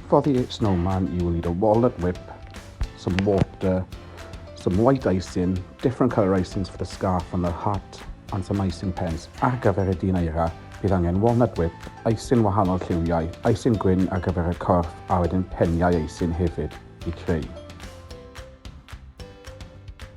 For the snowman, you will need a walnut whip, some water, some white icing, different colour icings for the scarf and the hat, and some icing pens. Ar gyfer y dyn eira, bydd angen walnut whip, icing wahanol lliwiau, icing gwyn ar gyfer y corff, a wedyn peniau icing hefyd i creu.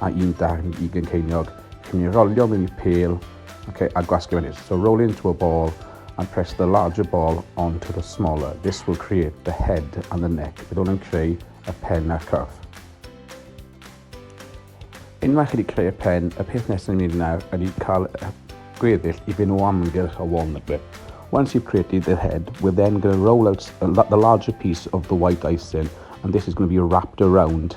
a un darn i Glyn Ceiniog. Chi'n mynd i rolio mewn i pêl okay, a gwasgu fan hyn. So roll into a ball and press the larger ball onto the smaller. This will create the head and the neck. Bydd hwn yn creu y pen a'r corff. Unwaith chi wedi creu y pen, y peth nesaf ni'n mynd nawr ydy cael gweddill i fynd o amgylch y walnut bit. Once you've created the head, we're then going to roll out the larger piece of the white icing and this is going to be wrapped around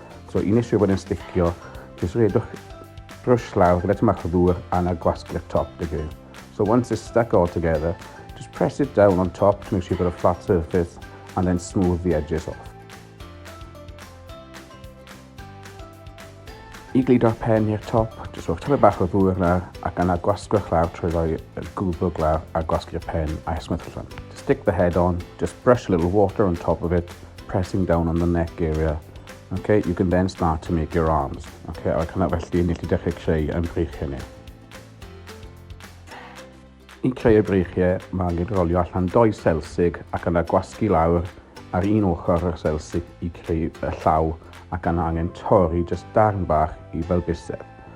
So i nes i fod yn sticio, just redwch brush lawr gyda tymach o ddŵr a na gwasgu'r top dy gyd. So once it's stuck all together, just press it down on top to make sure you've got a flat surface and then smooth the edges off. I gludo'r pen i'r top, jyst rhowch tyfu bach o ddŵr yna ac yna gwasgwch lawr trwy roi y gwddwg lawr a gwasgu'r pen a'i smwthlon. Just stick the head on, just brush a little water on top of it pressing down on the neck area. Okay, you can then start to make your arms. Okay, ac yna felly, ni chi dechrau creu yn breichiau ni. I creu y breichiau, mae angen rolio allan doi selsig ac yna gwasgu lawr ar un ochr y selsig i creu y llaw ac yna angen torri jyst darn bach i fel bysedd.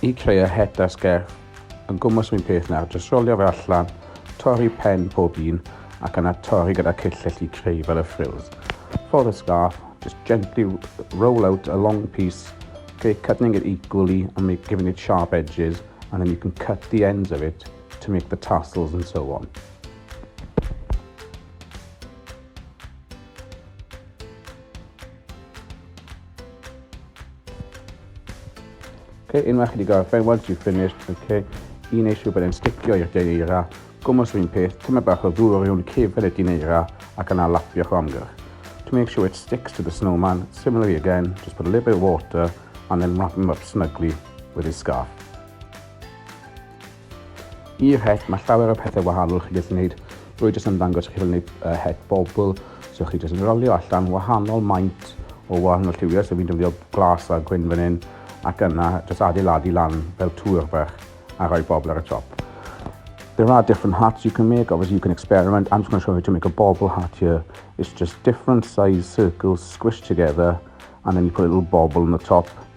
I creu het a sgerff yn gwmws yr un peth nawr, jyst rolio fe allan, torri pen pob un ac yna torri gyda cyllell i creu fel y frills. For the scarf, just gently roll out a long piece, okay, cutting it equally and make, giving it sharp edges and then you can cut the ends of it to make the tassels and so on. Okay, unwaith chi wedi gorffen, once you've finished, okay, i wneud siŵr bod e'n sticio i'r deira, gwmwys rhywun peth, tyma bach o ddŵr o rhywun cefn y dineira ac yna lapio o amgylch. To make sure it sticks to the snowman, similarly again, just put a little bit of water and then wrap him up snugly with his scarf. I'r het, mae llawer o pethau wahanol chi gallu gwneud. Rwy jyst yn ddangos chi fel wneud uh, het bobl. So chi jyst yn rolio allan wahanol maint o wahanol lliwiau. So fi'n dyfio glas a gwyn fan hyn ac yna jyst adeiladu lan fel tŵr bach a rhoi bobl ar y top. There are different hats you can make. Obviously, you can experiment. I'm just going to show you how to make a bobble hat here. It's just different size circles squished together, and then you put a little bobble on the top.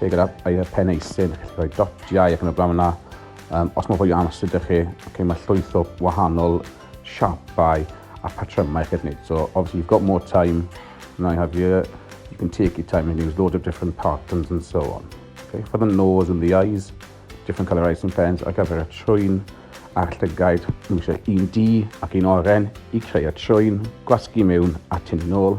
Lle gyda air peneisin, chi'n gallu rhoi dotiau ac yn y blaen yna. Um, os mae fwy o amser ydych chi, okay, mae llwyth o wahanol siapau a patrymau chi'n gwneud. So obviously you've got more time, now you have your, you can take your time and use loads of different patterns and so on. Okay, for the nose and the eyes, different colour eyes and pens ar gyfer y trwyn a'r llygaid. Mae eisiau un di ac un oren i creu y trwyn, gwasgu mewn a tynnu nôl.